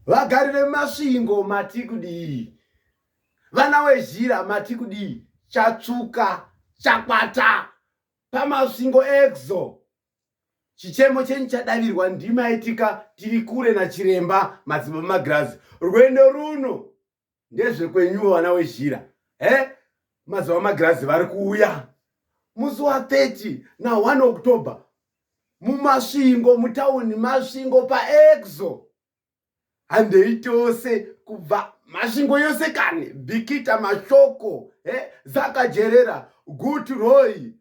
Vagari veMasvingo mati kudii? Vana wezhira mati kudii? Chatsvuka chakwata paMasvingo Exo. Chichemo chenyu chadavirwa ndima yetika tiri kure nachiremba Madzibaba Magirazi. Rwendo runo ndezvekwenyuwo vana wezhira he mazuva magirazi vari kuuya musi wa 30 na 1 october mumasvingo mutauni masvingo paexo handei tose kubva masvingo yose kani bikita mashoko he zakajerera gut roy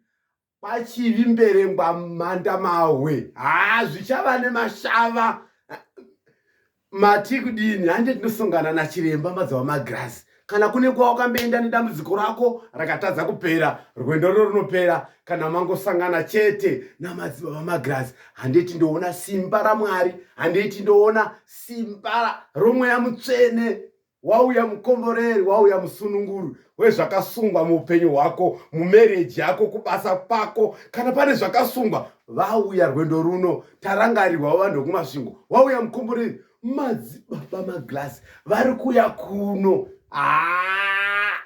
pachivi mberengwa mhanda mahwe haa zvichava nemashava mati kudini hande tinosongana nachiremba mazuva magirasi kana kune kuva wakamboenda nedambudziko rako rakatadza kupera rwendo rwo runopera kana mangosangana chete namadzibaba magirasi handiti ndoona simba ramwari handiti ndoona simba romweya mutsvene wauya mukomboreri wauya musununguri wezvakasungwa muupenyu hwako mumereji yako kubasa kwako kana pane zvakasungwa vauya rwendo runo tarangarirwa vanhu vekumasvingo wauya mukomboreri madzibaba maglass vari kuya kuno haa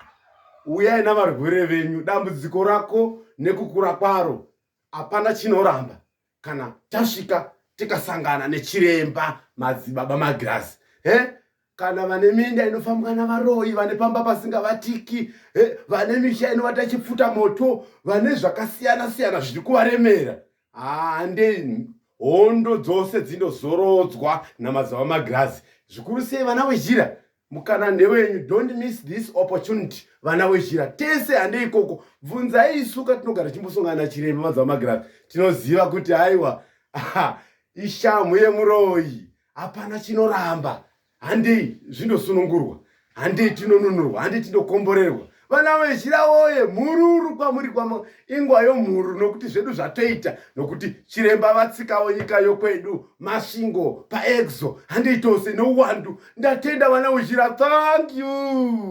uyai navarwere venyu dambudziko rako nekukura kwaro hapana chinoramba kana tasvika tikasangana nechiremba madzibaba magirazi he kana vane minda inofambwa navaroyi vane pamba pasingavatiki vane misha inovata chipfuta moto vane zvakasiyana siyana zviri kuvaremera hande hondo dzose dzinozorodzwa namadzibaba magirazi zvikuru sei vana wezhira mukana ndewenyu don't miss this opportunity vana wezhira tese hande ikoko bvunzai isu katinogara tichimbosongana chiremba madzava magirazi tinoziva kuti haiwa ishamhu yemuroyi hapana chinoramba handei zvindosunungurwa handei tinonunurwa handei tindokomborerwa vana vezhira woye mhururu kwamuri kwamo ingwa yomhuru nokuti zvedu zvatoita nokuti chiremba vatsikawo nyika yokwedu masvingo paexo handiitose nouwandu ndatenda vana vezhira thank you